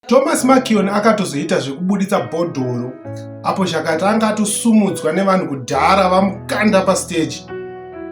Thomas Makion akatozoita zvekubuditsa bhodhoro apo Zhakata anga atosumudzwa nevanhu kudhara vamukanda pastage.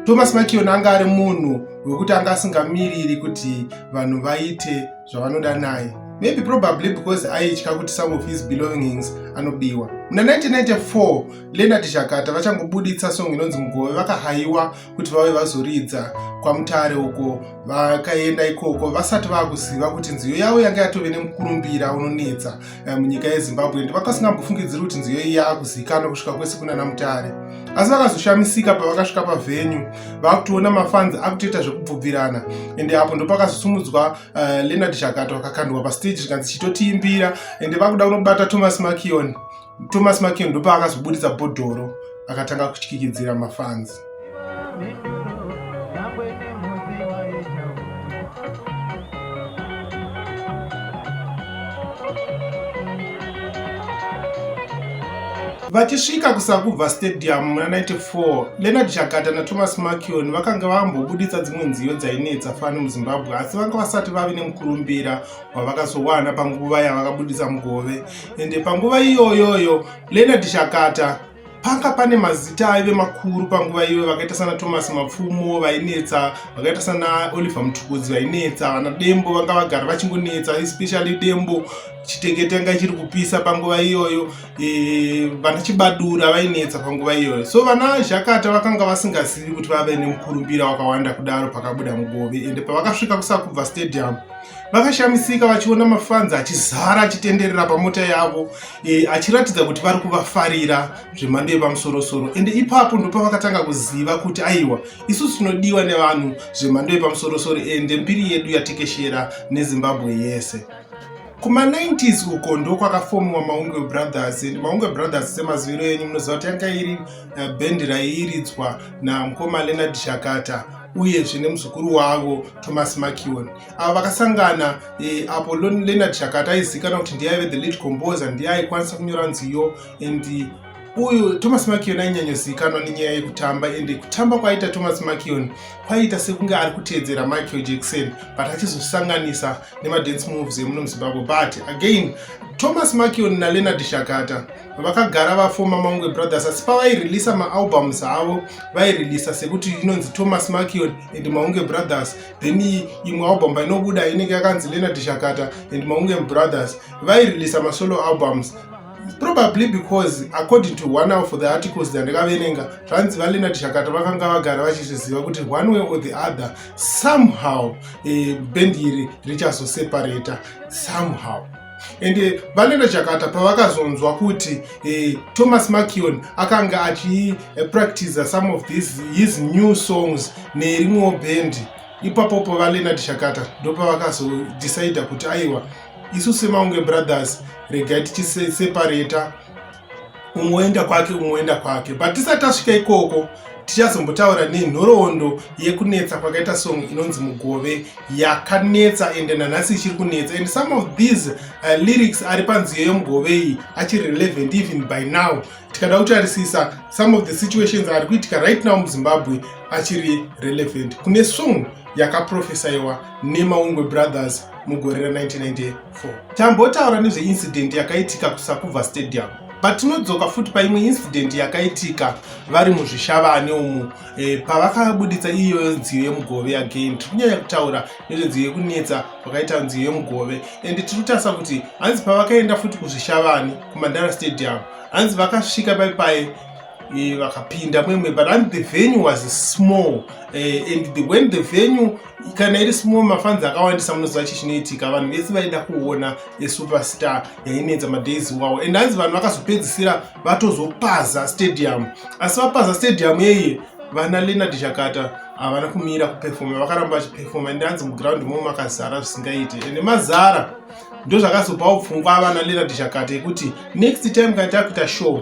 Thomas Makion anga ari munhu wekuti anga asingamiriri kuti vanhu vaite zvavanoda naye maybe probably because aitya kuti some of his belongings anobiwa muna 1994 lenard zhakata vachangobuditsa song inonzi mugove vakahayiwa kuti vave vazoridza kwamutare uko vakaenda ikoko vasati vakuziva kuti nziyo yavo yanga yatove nemukurumbira unonetsa eh, munyika yezimbabwe ndi vakasingambofungidziri kuti nziyo iyi yaakuzivikanwa kusvika kwese kunana mutare asi vakazoshamisika pavakasvika pavhenyu vakutoona mafanzi akutoita zvekubvubvirana ende apo ndopakazosumudzwa uh, eh, leonard chakato akakandwa pasteji zvikanzi chitotiimbira ende vakuda kunobata thomas makioni thomas makeo ndopaakazobuditsa bhodhoro akatanga kutyikidzira mafanzi vachisvika kusakubva stadium muna 94 lenard chakata nathomas makion vakanga vambobuditsa dzimwe nziyo dzainetsa fani muzimbabwe asi vanga vasati vave nemukurumbira wavakazowana panguva yavakabudisa mugove ende panguva iyoyoyo leonard shakata panga pane mazita aive makuru panguva iyoyo vakaita sana thomas mapfumo vainetsa vakaita sana oliver mutukudzi vainetsa vana dembo vanga vagara vachingonetsa especially dembo chitekete anga chiri kupisa panguva iyoyo e, vana chibadura vainetsa panguva iyoyo so vana zhakata vakanga vasingazivi kuti vave nemukurumbira wakawanda kudaro pakabuda mugove ende pavakasvika kusakubva stadium vakashamisika vachiona mafanzi achizara achitenderera pamota yavo e, achiratidza kuti vari kuvafarira zvemhando yepamusorosoro ende ipapo ndopa vakatanga kuziva kuti aiwa isusu tinodiwa nevanhu zvemhando yepamusorosoro ende mbiri yedu yatekeshera nezimbabwe yese kuma90s uko ndokwakafomiwa maunge brothers and maunge brothers semaziviro enyu munoziva kuti yanga iri eh, bhendi raiiridzwa namukoma leonard shakata uyezve nemuzukuru wavo thomas makion avo vakasangana e, apo leonard shakata aizivikanwa kuti ndiye aive the lead composer ndiye aikwanisa kunyora nziyo and uyu thomas makion ainyanyozivikanwa nenyaya yekutamba ende kutamba kwaiita thomas makion kwaiita sekunge ari kuteedzera michael jackson but achizosanganisa nemadance moves emuno muzimbabwe but again thomas makion naleonard shakata vakagara vafoma maungwe brothers asi pavaireleasa maalbums avo vaireleasa sekuti inonzi thomas makion and maunge brothers then imwe album painobuda inenge yakanzi leonard shakata and maunge brothers vaireleasa masolo albums probably because according to one of the articles dzandakaverenga zvanzi valeonard shakata vakanga vagara vachizviziva kuti one way or the other somehow eh, bend iri richazoseparata somehow and eh, vanenda chakata pavakazonzwa kuti eh, thomas makion akanga achipractiza eh, some of this, his new songs nerimwewo bhendi ipapo pavalenad shakata ndopavakazodecida kuti aiwa isu semaunge brothers regai tichiseparata umwe oenda kwake umwe oenda kwake but tisati tasvika ikoko tichazombotaura nenhoroondo yekunetsa kwakaita song inonzi mugove yakanetsa ende nanhasi ichiri kunetsa and some of these uh, lyrics ari panziyo yemugove iyi achiri relevant even by now tikada kutarisisa some of the situations ari kuitika right now muzimbabwe achiri relevant kune song yakaprofesaiwa nemaungwe brothers mugore ra 1998 4 tambotaura nezveincident yakaitika kusakubva stadium patinodzoka futi paimwe incident yakaitika vari muzvishavane umu e, pavakabuditsa iyoyo nziyo yemugove again tiri kunyanya kutaura nezvenziyo yekunetsa vakaita nziyo yemugove and tiri kutarisa kuti hanzi pavakaenda futi kuzvishavane kumandara stadium hanzi vakasvika pai pai e, vakapinda mwemwe but hanzi the venue was small e, and the, when the venue kana iri small mafanzi akawandisa munoziva chii chinoitika vanhu vese vaida kuona yesuperstar yainetsa madays wawo and hanzi vanhu vakazopedzisira vatozopaza stadium asi vapaza stadium yeye vana leonard chakata havana kumira kupefoma vakaramba vachipefoma and hanzi muground momo makazara zvisingaiti and mazara ndozvakazopawo pfungwa avana leonard chakata yekuti next time kana takuita show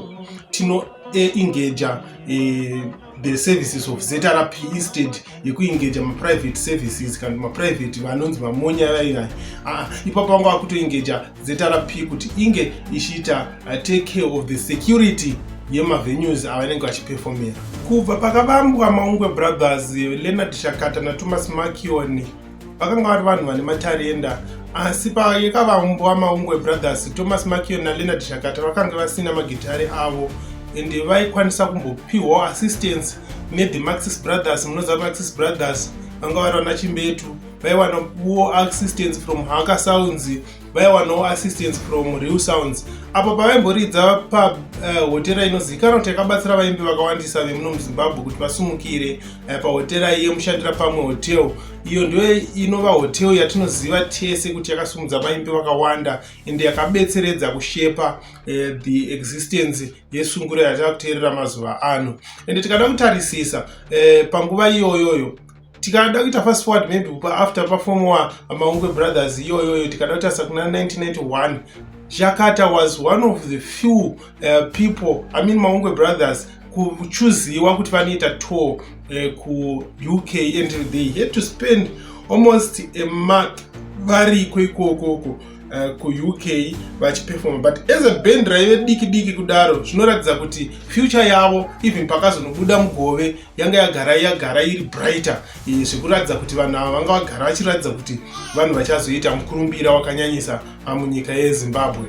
tino e, engager e, the services of zrp instead yekuengaja maprivate services kana maprivate vanonzi vamonya vaivai ah, ipapo vanga vakutoengaja zrp kuti inge ichiita uh, take care of the security yemavenues avanenge vachiperfomera kubva pakavambwa maungwe brothers leonard shakata nathomas makioni vakanga vari vanhu vane matarenda asi payekavaumbo wamaungwe brothers thomas makion naleonard shakata vakange vasina magitare avo ende vaikwanisa kumbopiwawo assistance nethe maxis brothers munoziva maxis brothers vanga vari vana chimbetu vaiwana wo assistance from haka sounds vaiwanawo assistance from real sounds apo pavaimboridza pahotera eh, uh, inozivikanwa kuti yakabatsira vaimbi vakawandisa vemuno muzimbabwe kuti vasumukire uh, pahotera yemushandira pamwe hotel iyo ndiyo inova hotel yatinoziva tese kuti yakasumudza vaimbi vakawanda ende yakabetseredza kushepa uh, the existence yesunguro yatava kuteerera mazuva ano ende tikada kutarisisa uh, panguva iyoyoyo tikada kuita fast forward maybe kupa after pafomowa maungwe brothers iyoyoyo tikada kuita sakuna 1991 jakata was one of the few uh, people i mean maungwe brothers kuchuziwa kuti vanoita tour uh, eh, kuuk and they had to spend almost a month variko ikokoko uh, eh, kuuk vachipefoma but as a band raive diki diki kudaro zvinoratidza kuti future yavo even pakazonobuda mugove yanga yagara yagara iri brighter eh, zvekuratidza kuti vanhu ava vanga vagara vachiratidza kuti vanhu vachazoita mukurumbira wakanyanyisa munyika yezimbabwe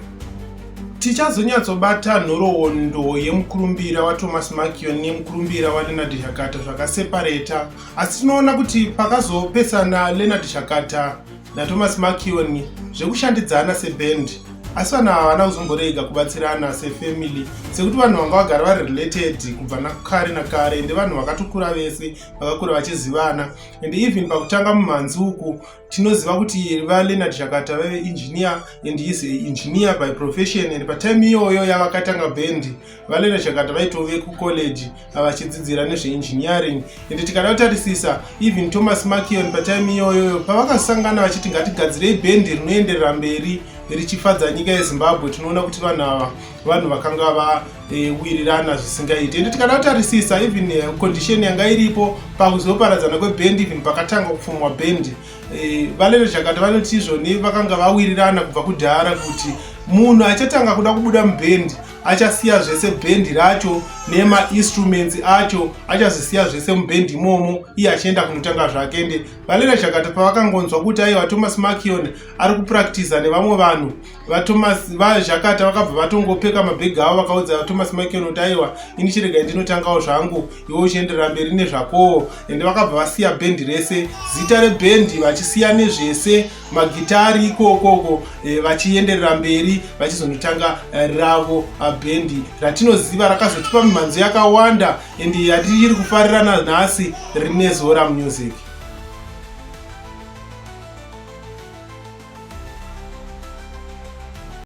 tichazonyatsobata nhoroondo yemukurumbira wathomas makion nemukurumbira walenard shakata zvakasepareta asi tinoona kuti pakazopesana lenard shakata naThomas Makion zvekushandidzana seband asi vanhu ava havana kuzomborega kubatsirana sefamily sekuti vanhu vanga vagara vari related kubva nakare nakare ende vanhu vakatokura vese vakakura vachizivana and even pakutanga mumhanzi uku tinoziva kuti valeonard shakata vave engineer and is engineer by profession and patime iyoyo yavakatanga band valena chakata vaitove kucollege vachidzidzira nezveengineering ende tikada kutarisisa even thomas makion patime iyoyoyo pavakasangana vachiti ngatigadzirei bhendi rinoenderera mberi richifadza nyika yezimbabwe tinoona kuti vanhu ava vanhu vakanga vawirirana eh, zvisingaiti ende tikada kutarisisa even eh, condition yanga iripo pakuzoparadzana kwebhendi even pakatanga kupfumwa bhendi eh, valena chakata vanoti izvoni vakanga vawirirana kubva kudhara kuti munhu achatanga kuda kubuda mubhendi achasiya zvese bhendi racho nemainstruments acho achazvisiya zvese mubhendi imomo iye achienda kunotanga zvake ende valera chakata pavakangonzwa kuti aiwa thomas makion ari kupractiza nevamwe vanhu vatomas vazhakata vakabva vatongopfeka mabhegi avo vakaudza thomas makion kuti aiwa ini chiregai ndinotangawo zvangu iwe uchienderera mberi nezvakowo ende vakabva vasiya bhendi rese zita rebhendi vachisiya nezvese magitari ikokoko e, eh, vachienderera mberi vachizonotanga eh, ravo ah, bhendi ratinoziva rakazotipa mimhanzo yakawanda and yatiri kufarirana nhasi rine zora music